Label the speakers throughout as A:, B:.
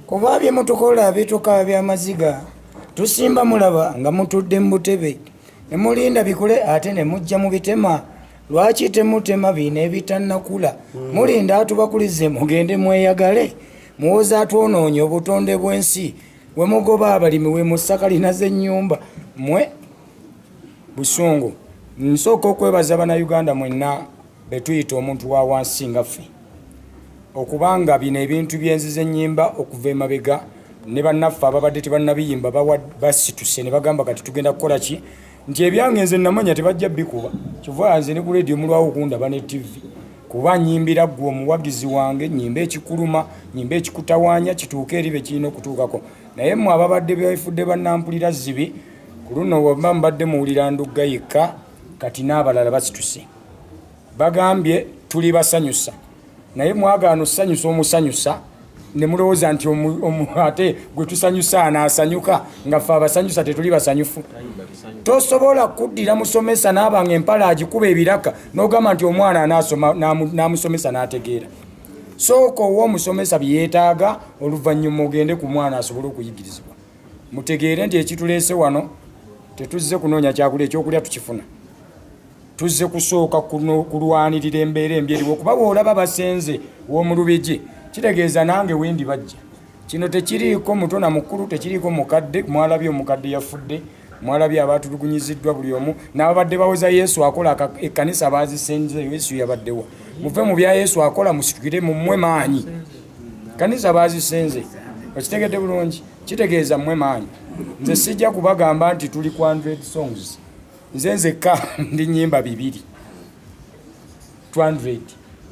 A: kuba bye mutukola bituka bya maziga tusimba mulaba nga mutudde mu butebe ne mulinda bikule ate ne mujja mu bitema lwaki temutema bino ebitannakula mulinda atubakulize mugende mweyagale muwoza atwonoonye obutonde bw'ensi we mugoba abalimi we musakalina z'ennyumba mwe busungu nsooka okwebaza bana uganda mwenna betuyita omuntu wa wansi nga ffe okubanga bino ebintu byenziza ennyimba okuva emabega ne bannaffe ababadde tebannabiyimba basituse ne bagamba kati tugenda kukola ki nti ebyange nze namanya tebajja bikuba kyova nze ne ku leediyo mulwawo okundaba ne tivi kuba nyimbira ggwe omuwagizi wange nyimba ekikuluma nyimba ekikutawanya kituuke eri be kirina okutuukako naye mmwe ababadde befudde bannampulira zibi ku luno waba mbadde muwulira ndugga yekka kati n'abalala basituse bagambye tuli basanyusa naye mwagaana osanyusa omusanyusa ne mulowooza nti ate gwe tusanyusa anaasanyuka nga ffe abasanyusa tetuli basanyufu tosobola kuddira musomesa naaba nga empala agikuba ebiraka n'ogamba nti omwana anaasoma n'amusomesa n'ategeera sooka owa omusomesa bye yeetaaga oluvannyuma ogende ku mwana asobole okuyigirizibwa mutegeere nti ekituleese wano tetuzze kunoonya kyakulya ekyokulya tukifuna tuzze kusooka kulwanirira embeera embi eriwo kuba bwolaba basenze w'omulubigi kitegeeza nange wendi bajja kino tekiriiko muto na mukulu tekiriiko mukadde mwalabye omukadde yafudde mwalabye abaatulugunyiziddwa buli omu n'ababadde bawoza yesu akola ekkanisa baazisenze yesu yabaddewa muve mu bya yesu akola musitukire mumwe maanyi kanisa baazisenze okitegedde bulungi kitegeeza mmwe maanyi nze sijja kubagamba nti tuli ku 100 songs nze nzekka ndi nyimba bibiri 200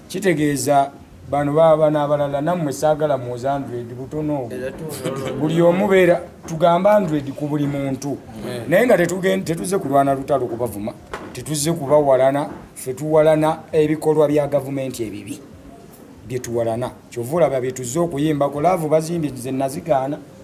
A: kitegeeza bano baba nabalala nammwe saagala muoze 100 butono obwo buli omubeera tugamba 100 ku buli muntu naye nga tetuze kulwana lutalo kubavuma tetuze kubawalana fe tuwalana ebikolwa bya gavumenti ebibi byetuwalana kyova olaba byetuze okuyimbako laavu bazimbye ze nazigaana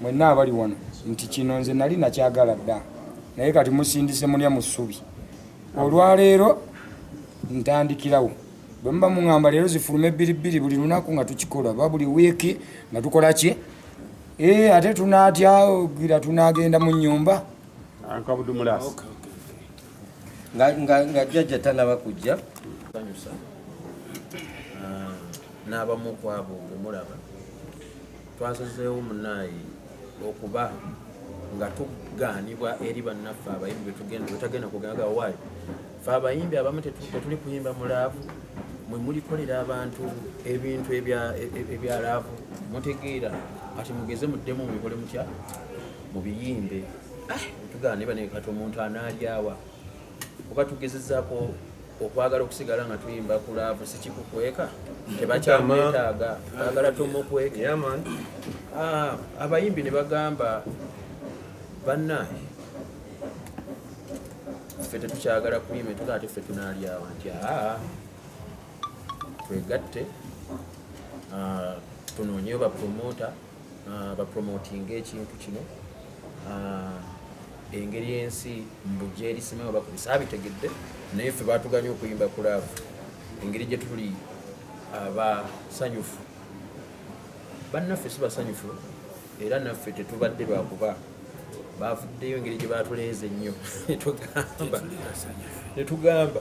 A: mwenna abali wano nti kino nze nali nakyagala dda naye kati musindise mulya mu ssubi olwaleero ntandikirawo bwe muba muŋamba leero zifuluma ebbiribbiri buli lunaku nga tukikola oba buli wiiki nga tukola ki ee eh, ate tunaatya gira tunaagenda mu nnyumba
B: nga jjajja tanaba kujja ah,
C: n'abamu kwabo bwe mulaba Twasazeewo munayi okuba nga tugaanibwa eri bannaffe abayimbi betugenda betagenda kugenda gawaayo fe abayimbi abamu tetuli kuyimba mu laavu mwe mulikolera abantu ebintu e, e, ebya laavu mutegeera kati mugeze muddemu mubikole mutya mubiyimbe ah, tugaanibwa nekati omuntu anaalyawa kuba tugezezaako okwagala okusigala nga tuyimba ku laavu sikikukweka tebakyamwetaaga bagala tomukweke ah, abayimbi ne bagamba bannaye ffe tetukyagala kuyima etuga ate ffe tunaalyawa nti aa twegatte ah, tunoonyeyo bapromota ah, bapromotinga ekintu kino ah, engeri ensi mbugyerisimao bakubisa abitegedde naye ffe batuganye okuyimba ku laavu engeri gye tuli abasanyufu bannaffe si basanyufu era naffe tetubadde lwakuba bavuddeyo engeri gye batuleeze ennyo netugamba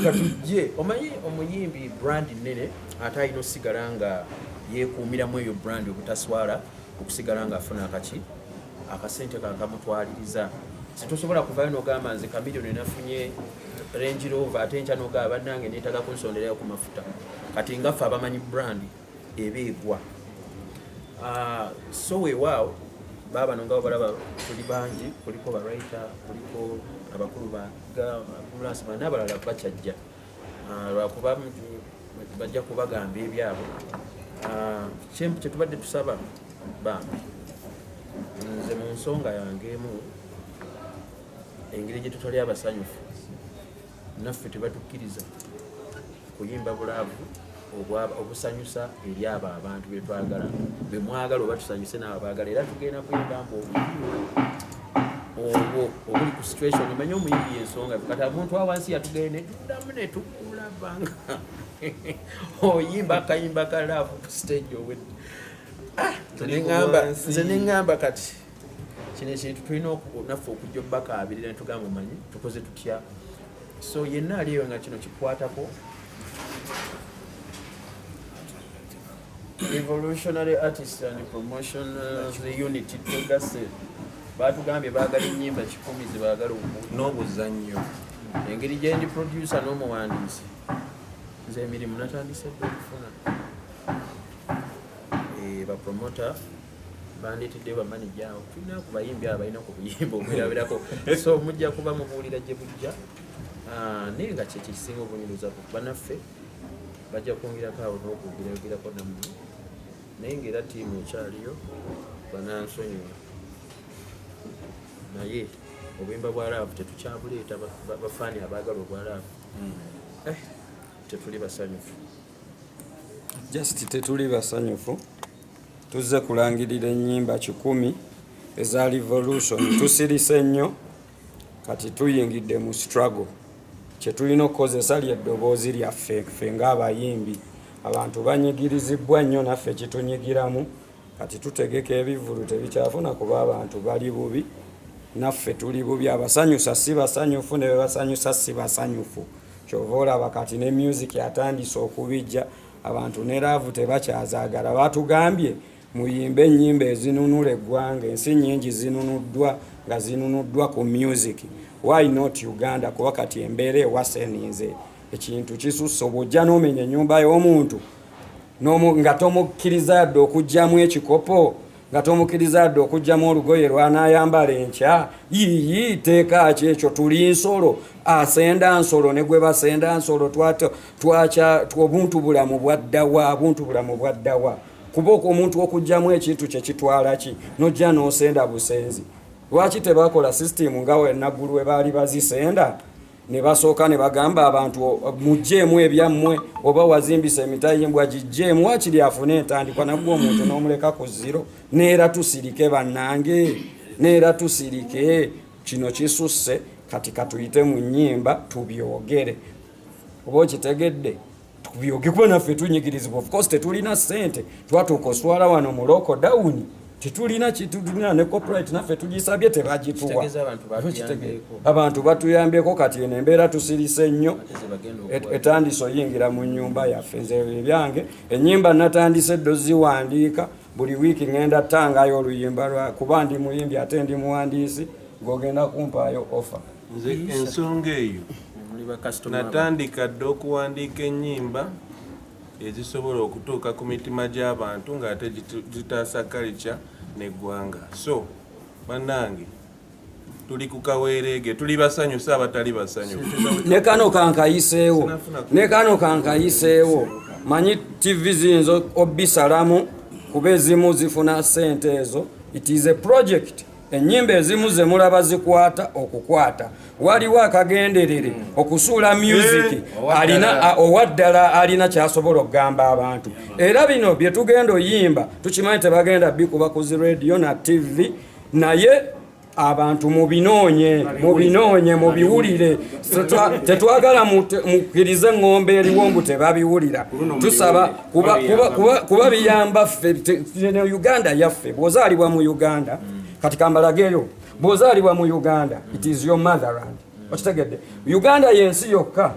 C: katujje omanyi omuyimbi brand nene ate alina osigala nga yekuumiramu eyo brand obutaswala okusigala nga afuna akaki akasente kakamutwaliriza situsobola kuvayo nogamba nze kamilioni nafunye renjirova ate nkya nogaba banange netaga kunsonderayo ku mafuta kati ngaffe abamanyi brand eba egwa ah, so weewaawo baabano nga balaba tuli bangi kuliko baraita kuliko abakulu baambulansi bana abalala bakyajja ah, lwakuba bajja kubagamba ebyabwe ah, kyetubadde tusaba bambi nze mu nsonga yange emu engeri gyetutali abasanyufu naffe tebatukkiriza kuyimba bulaavu obusanyusa eri abo abantu betwagala bemwagala oba tusanyuse naabo baagala era tugenda kuyimba mbu obwo obuli ku situation omanye omuyimbi yensonga kati omuntu awansi yatugende tuddamu netukulabanga oyimba akayimba ka laavu ku stage owedde ah, nze neŋamba kati kino ekintu tulina naffe okujja obubakaabirira ne tugamba omanyi tukoze tutya so yenna ali eyo nga kino kikwatako evolutionary artist and promotion of the unity togase batugambye baagala enyimba kikumi zebaagala n'obuzannyo
D: engeri
C: gyendi producer n'omuwandiisi nze emirimu natandise dde okufuna eh, bapromota bandeteddeyo bamanija awo tulina ku bayimbi abo balina ku buyimba obwerabirako so mujja kuba mubuulira gye bujja ah, naye nga kyekyo ekisinga obunyuliza ku banaffe bajja kwongerako awo n'okwogerayogerako namu naye ngaera tiimu ekyaliyo banansonyiwa naye obuyimba bwa laavu tetukyabuleeta bafaani abaagala obwa laavu hmm. eh, tetuli basanyufu
D: just tetuli basanyufu tuzze kulangirira ennyimba kikumi eza revolution tusirise nnyo kati tuyingidde mu struggle kyetulina okukozesa lyeddoboozi lyaffe ffe ngaabayimbi abantu banyigirizibwa nnyo naffe kitunyigiramu kati tutegeka ebivulu tebikyafuna kuba abantu bali bubi naffe tuli bubi abasanyusa si basanyufu ne bebasanyusa si basanyufu kyova olaba kati ne music atandise okubijja abantu ne laavu tebakyazagala batugambye muyimbe ennyimba ezinunula eggwanga ensi nyingi zinunuddwa nga zinunuddwa ku music why not uganda kuba kati embeera ewaseninze ekintu kisusse obwojja nomenya ennyumba y'omuntu nga tomukkiriza yadde okugyamu ekikopo nga tomukiriza dde okugyamu olugoye lwanaayambala enkya yiyi teeka ki ekyo tuli nsolo asenda nsolo ne gwe basenda nsolo twakya obuntu bulamu bwaddawa obuntu bulamu bwaddawa kuba oko omuntu okugyamu ekintu kye kitwala ki nojja n'osenda busenzi lwaki tebakola sisitimu nga wenaggulu we baali bazisenda ne basooka ne bagamba abantu mujjeemu ebyammwe oba wazimbisa emitayimbwa gijjeemu wakiri afune entandikwa nagwe omuntu n'omuleka ku ziro neera tusirike bannange neera tusirike kino kisusse kati katuyite mu nnyimba tubyogere oba okitegedde tubyoge kuba naffe tunyigirizibwa of course tetulina sente twatuuka oswala wano mu local down tetulina kitulina ne copyright naffe tugisabye tebagituwa abantu batuyambyeko kati eno embeera tusirise nnyo etandise oyingira mu nyumba yaffe nze ebyange enyimba natandise eddo ziwandiika buli wiiki ngenda tangayo oluyimba lwa kuba ndi muyimbi ate ndi muwandiisi ng'ogenda kumpaayo offer nze ensonga
E: eyo natandika dda okuwandiika ennyimba ezisobola okutuuka ku mitima gy'abantu ng'ate zitaasa kalica n'eggwanga so bannange tuli ku kaweereege tuli basanyusa abatali basanyufu ne kano kankayiseewo
D: ne kano kankayiseewo manyi tv ziyinza obisalamu kuba ezimu zifuna sente ezo it is a project ennyimba ezimu ze mulaba zikwata okukwata waliwo akagenderere okusuula myuziki eh, alina owaddala alina kyasobola okugamba abantu era bino bye tugenda oyimba tukimanyi tebagenda bikuba ku zi rediyo na tivi naye abantu mubinoonye mubinoonye mubiwulire tetwagala mukkirize ng'ombe eriwo mbu tebabiwulira tusaba kuba kuba kuba kuba biyamba ffe ne Uganda yaffe bwozalibwa mu Uganda mm. kati kambalagero bwozalibwa mu Uganda mm. it is your motherland mm. okitegedde Uganda yensi yokka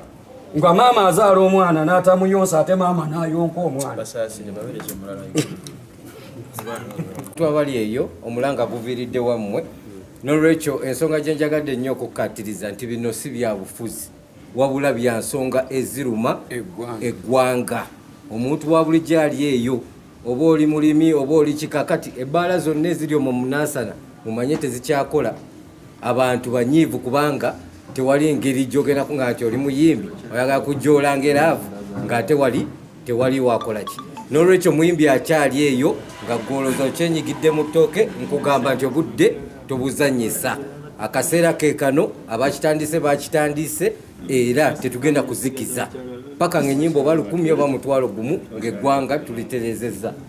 D: nga maama azaala omwana n'atamuyonsa ate maama n'ayonka omwana
B: twabali eyo omulanga guviiridde wammwe nolwekyo ensonga gyenjagadde nnyo okukkaatiriza nti bino si byabufuzi wabula bya nsonga eziruma eggwanga omuntu wa bulijjo ali eyo oba oli mulimi oba oli kika kati ebbaala zonna eziri omwo munansana mumanye tezikyakola abantu banyiivu kubanga tewali ngeri gyogendako nga nti oli muyimbi oyagala kujoola ngeraavu ng'ate wali tewali wakolaki nolwekyo muyimbi akyali eyo nga gwoloza okyenyigidde mu ttooke nkugamba nti obudde tobuzanyisa akaseera kekano abakitandise bakitandise era tetugenda kuzikiza paka nga enyimba oba lukumi oba mutwalo gumu ngaeggwanga tuliterezeza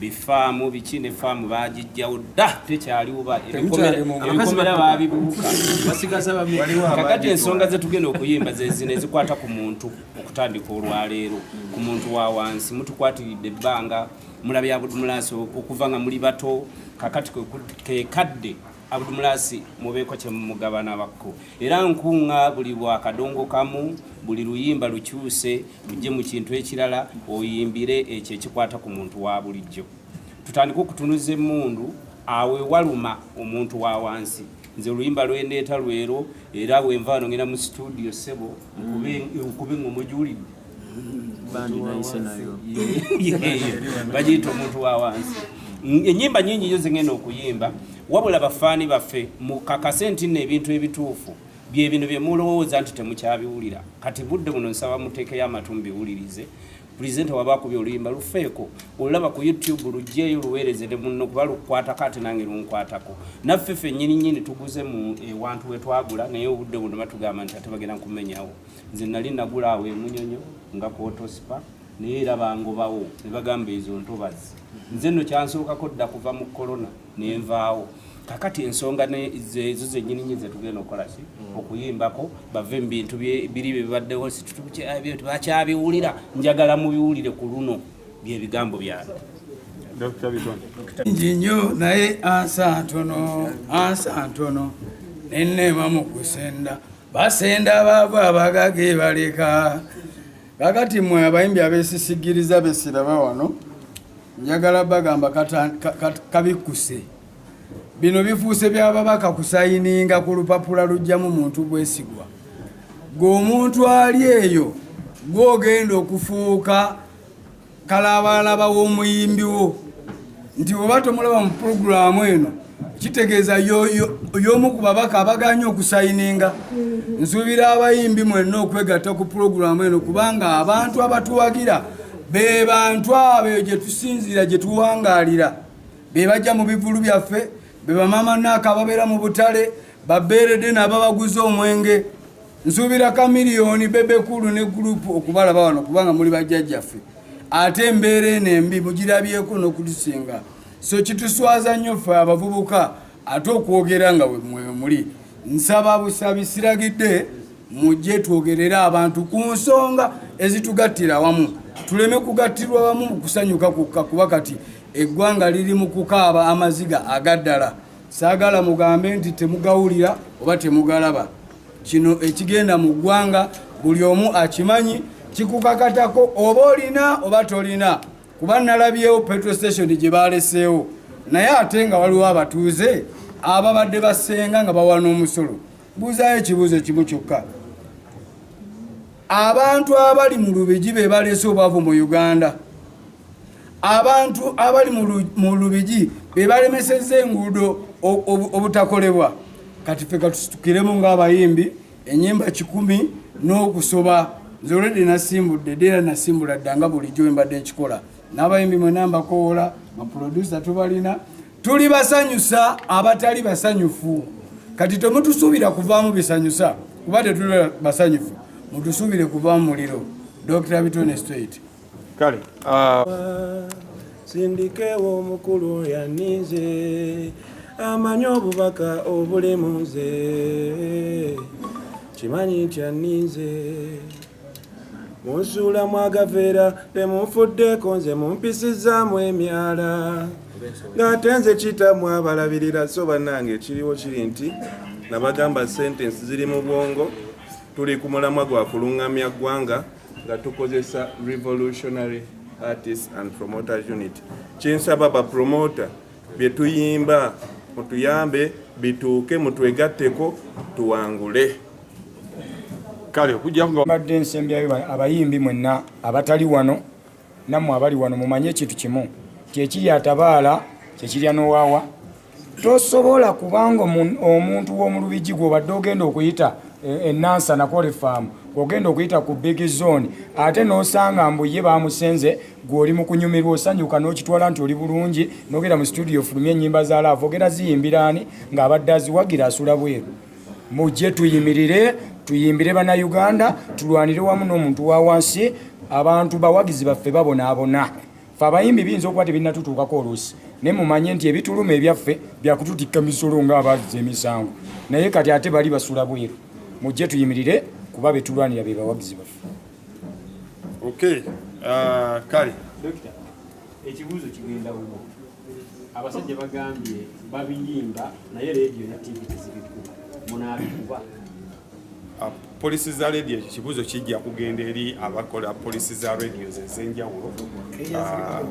F: bifaamu biki ne faamu baagijjawo dda tekyaliwuba ebikomera baabibuuka kakati ensonga ze tugenda okuyimba zezino ezikwata ku muntu okutandika olwaleero ku muntu wa wansi mutukwatiridde ebbanga mulabyabudu mulaasi okuva nga muli bato kakati kekadde Abdumulasi mubeeko kye mumugabana bakko era nkunga buli bwa kadongo kamu buli luyimba lukyuse lujje mu kintu ekirala oyimbire ekyo ekikwata ku muntu wa bulijjo tutandike okutunuza emundu awe waluma omuntu wa wansi nze oluyimba lwendeeta lwero era wenva wano ngenda mu situdio sebo nkube ngomujulidde bandi nayise nayo bagiyita omuntu wa wansi enyimba nyingi nyo zengenda okuyimba wabula bafaani baffe mukakase nti no ebintu ebituufu byebino byemulowooza nti temukyabiwulira kati budde buno nsaba muteekeyo amatu mubiwulirize pulezidenti waba akubi oluyimba lufeeko olulaba ku youtube lugyeyo luweereze ne munno kuba lukwatako ate nange lunkwatako naffe ffe nyininyini tuguze mu ewantu wetwagula naye obudde buno batugamba nti ate bagenda kumenyawo nze nali nagula awo emunyonyo nga kwotosipa naye era bangobawo ne bagamba ezo ntobazi nze nno kyansookako dda kuva mu kolona nenvaawo kakati ensonga ezo zenyini nyi zetugenda okukola ki okuyimbako bave mu bintu biri byebibaddewo situbakyabiwulira njagala mubiwulire ku luno byebigambo byange
G: nji nnyo naye ansa ntono ansa ntono nenneema mu kusenda basenda abaavu abagaga ebaleka kakati mwe abayimbi abesisigiriza besiraba wano njagala bagamba kabikkuse bino bifuuse byababaka kusayininga ku lupapula lujjamu muntu bwesigwa gwe omuntu ali eyo gwogenda okufuuka kalaabalaba w'omuyimbi wo nti oba tomulaba mu pulogulaamu eno kitegeeza y'omu ku babaka abaganye okusayininga nsuubira abayimbi mwenna okwegatta ku pulogulaamu eno kubanga abantu abatuwagira be bantu abo gye tusinziira gye tuwangaalira be bajja mu bivulu byaffe be bamaama naaka ababeera mu butale babeerede naababaguza omwenge Nsuubira Chameleone, Bebe Cool ne group okubalaba wano kubanga muli bajjajjaffe ate embeera eno embi mugirabyeko n'okutusinga so kituswaza nnyo ffe abavubuka ate okwogera nga muli nsaba busabi siragidde mujje twogerere abantu ku nsonga ezitugattira wamu tuleme kugattirwa wamu mu kusanyuka kukka kuba kati eggwanga liri mu kukaaba amaziga agaddala saagala mugambe nti temugawulira oba temugalaba Kino ekigenda mu ggwanga buli omu akimanyi, kikukakatako oba olina oba tolina, kuba nalabyewo petrol station gye baaleseewo, naye ate nga waliwo abatuuze ababadde basenga nga bawa n'omusolo. Buuzaayo ekibuuzo kimu kyokka, abantu abali mu Lubigi be baleese obwavu mu Uganda? abantu abali mu lubigi be balemesezza enguudo obutakolebwa kati fe katusitukiremu ng'abayimbi enyimba kikumi n'okusoba nze olwedde nasimbudde dera nasimbula dda nga bulijjo embadde nkikola n'abayimbi mwena mbakoola baprodusa tubalina tuli basanyusa abatali basanyufu kati temutusuubira kuvaamu bisanyusa kuba tetuli basanyufu mutusuubire kuvaamu muliro dr bitone straight kale
E: ah, sindikewo omukulu yaninze amanyi obubaka obuli mu nze kimanyi nti aninze munsuulamu agaveera temunfuddeeko nze mumpisizaamu emyala ng'ate nze kitamu abalabirira so bannange ekiriwo kiri nti nabagamba sentensi ziri mu bwongo tuli ku mulamwa gwa kulungamya ggwanga nga tukozesa revolutionary artist and promoter unit kyensaba ba promoter bye tuyimba mutuyambe bituuke mutwegatteko tuwangule
A: kale okujja nga mbadde nsembyayo abayimbi mwenna abatali wano nammwe abali wano mumanye ekintu kimu nti ekiri atabaala kyekirya n'owaawa tosobola kubanga omuntu w'omu lubigi gw'obadde ogenda okuyita enansa e, nakola efaamu ogenda okuyita ku big zone ate n'osanga mbu ye bamusenze gw'oli mu kunyumirwa osanyuka n'okitwala nti oli bulungi n'ogenda mu situdiyo ofulumye ennyimba za laavu ogera ziyimbiraani ng'abadde aziwagira asula bweru mujje tuyimirire tuyimbire bannayuganda tulwanire wamu n'omuntu wa wansi abantu bawagizi baffe babonaabona fe abayimbi biyinza okuba tebinatutuukako oluusi naye mumanye nti ebituluma ebyaffe byakututikka misolo ng'abazza emisango naye kati ate bali basula bweru mujje tuyimirire kuba betulwanira be bawagizi baffe
E: okay uh, kale
H: ekibuuzo kigenda wuwo abasajja bagambye babiyimba naye leediyo ne tivi tezibikuba munaabikuba
E: ah, polisi za leediyo ekyo kibuuzo kijja kugenda eri abakola polisi za radios ez'enjawulo ah,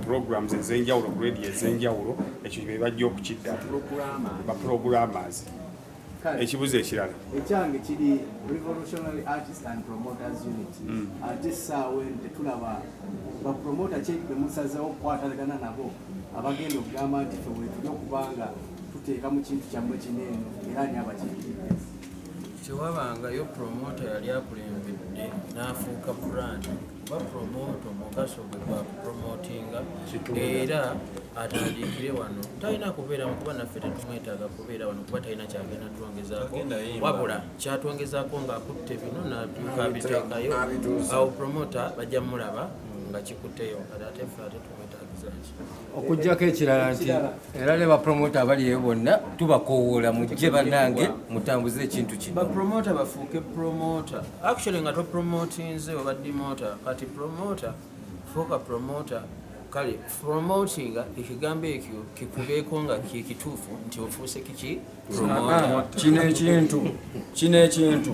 E: programs ez'enjawulo ku radiyo ez'enjawulo ekyo bebajja okukiddamu bapulogulamas ekibuzo ekirala ekyange kiri
I: revolutionary artist and promoters unit hmm. ate saawa eno tetulaba bapromota kyekbe musazewo okukwatagana nabo abagenda okugamba nti fe wetuli okubanga tuteeka mu kintu kyammwe kino eno era ani abakiikiride tewabangayo
C: promota yali akulembedde n'afuuka brand omugaso gwe gwa kupromotinga era atandikire wano talina kubeera kuba naffe tetumwetaaga kubeera wano kuba talina kyagenda twongezaako wabula kyatwongezaako ng'akutte bino nabyuka abiteekayo awo promota bajja mulaba nga kikutteyo ate ffe ate okujjako
B: ekirala nti era ne bapromota abali eyo bonna tubakowoola mujje bannange mutambuze ekintu kinobapromota bafuuke
C: promota actually nga topromotinze oba dimota kati promota fuuka promota kale promotinga ekigambo ekyo kikubeeko nga kyekituufu nti ofuuse kiki kino ekintu
D: kino ekintu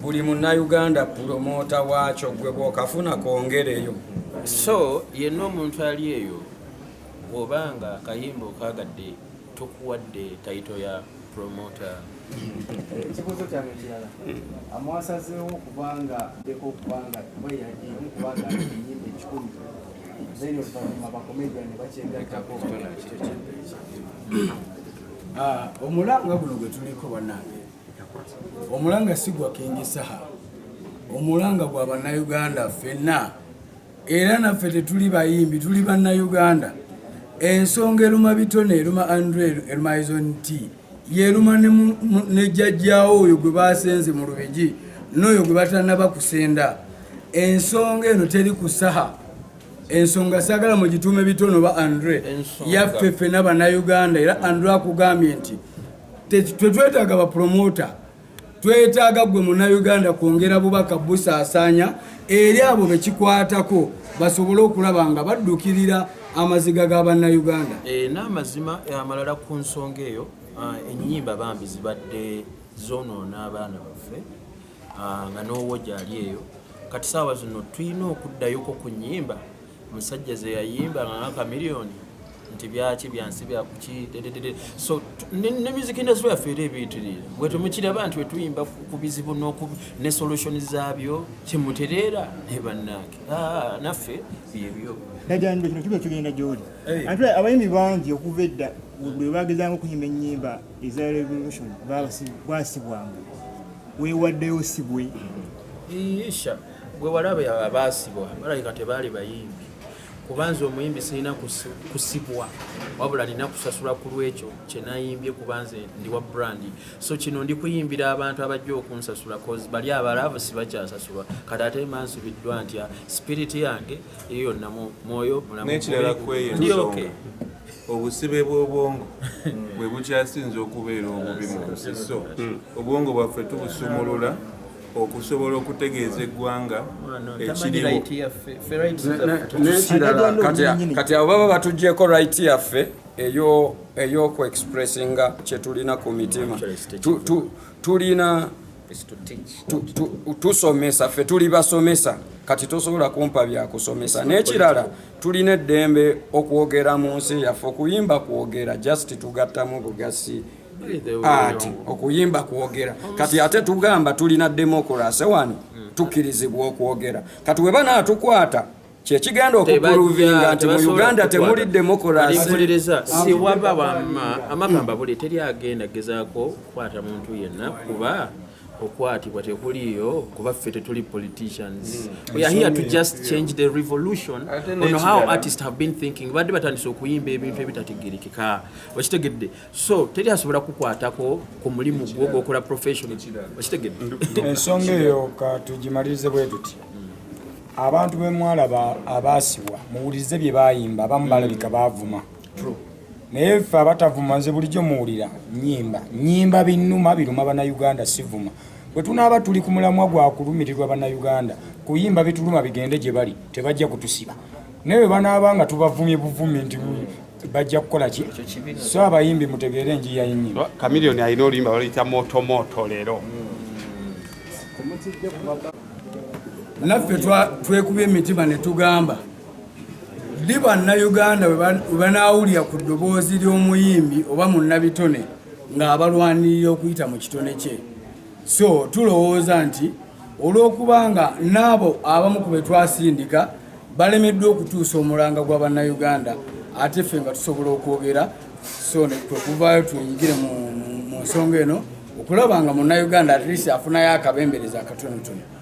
D: buli munnayuganda pulomota waakyo gwe bwokafuna kwongereyo so
C: yenna omuntu ali eyo oba nga akayimba okagadde tukuwadde tayito ya pulomota ekibuuzo
I: kyange kirala amwasazeewo okubanga deko okubanga weyagiyemu kubanga eyimba ekikumi then oluvanyuma bakomedian bakyegattako
G: Ah, omulanga guno gwe tuliko bannange omulanga si gwa kingi saha omulanga gwa bannayuganda ffenna era naffe tetuli bayimbi tuli bannayuganda ensonga eruma bitone eruma andre ermaison t yeruma ne jjajjaawo oyo gwe basenze mu lubigi n'oyo gwe batanaba kusenda ensonga eno teri ku saha ensonga sagala mugituume bitono ba andre yaffe ffena banauganda era andre akugambye nti tetwetaaga bapromota twetaaga gwe munauganda kwongera bubaka busaasaanya eri abo bekikwatako basobole okulaba nga baddukirira amaziga ga bannauganda eh, n'amazima
C: eh, amalala ku nsonga eyo ah, ennyimba bambi zibadde zonoona abaana baffe ah, nga n'owo gyali eyo kati saawa zino tulina okuddayoko ku nyimba musajja zeyayimba nga ngakamiliyoni nti byaki byansi byakuki dededede so ne music industry yaffe era ebiyitiriira bwe temukiraba nti wetuyimba ku bizibu ne solution zaabyo kyemutereera naye bannange ah, naffe byebyo najanjwe kino kiba
J: kigenda gyoli eh. ate abayimbi bangi okuva edda bwe bagezanga okuyimba ennyimba eza revolution bwasibwanga wewaddeyo sibwe isha
C: gwe walabe abaasibwa balabika tebaali bayimbi kubanza omuyimbi sirina kusibwa wabula nina kusasula ku lwekyo kyenayimbye kubanza ndi wa brandi so kino ndi kuyimbira abantu abajja okunsasula cause bali abalaavu sibakyasasulwa kati ate mansubiddwa ntya sipiriti yange eyo yonna mwoyo mulamu
E: ndi okay obusibe bw'obwongo bwe bukyasinze okubeera obubi mu nsi so obwongo bwaffe tubusumulula okusobola okutegeeza eggwanga ekirikati
D: abo baba batugyeko right yaffe eyoku expressinga kyetulina ku mitima tulina tusomesa ffe tuli basomesa kati tosobola kumpa byakusomesa n'ekirala tulina eddembe okwogera mu nsi yaffe okuyimba kwogera just tugattamu bugasi ati okuyimba kwogera kati ate tugamba tulina demokurasi wano hmm. tukkirizibwa okwogera kati weba naatukwata kyekigenda okupuluvinga nti mu uganda temuli demokurasiwaba
C: wama amakamba buli teri agenda gezako kukwata muntu yenna kuba okwatibwa tekuliyo kuba ffe tetuli politicians mm. we are here to just change the revolution on how artists have been thinking badde batandise okuyimba ebintu ebitategerekeka okitegedde so teri asobola kukwatako ku mulimu gwo gwokola profession okitegedde ensonga eyo
A: katugimalirize bwe tuti abantu bemwalaba abaasibwa muwulirize bye bayimba abamu balabika baavuma naye ffe abatavuma nze bulijjo muwulira nyimba nyimba binuma biruma banauganda sivuma bwe tunaaba tuli ku mulamwa gwa kulumirirwa banauganda kuyimba bituluma bigende gye bali tebajja kutusiba naye bwe banaaba nga tubavumye buvumi nti bajja kukola ki so abayimbi mutegeere enjiya yenyimba kamilioni alina oluyimba
K: baluyita motomoto leero
G: naffe twekuba emitima ne tugamba Ddi Bannayuganda we banaawulira ku ddoboozi ly'omuyimbi oba munnabitone ng'abalwanirira okuyita mu kitone kye? So tulowooza nti olw'okuba nga n'abo abamu ku be twasindika balemeddwa okutuusa omulanga gwa Bannayuganda ate ffe nga tusobola okwogera so ne kwe kuvaayo twenyigire mu nsonga eno okulaba nga munnayuganda at least afunayo akabembereza akatonotono.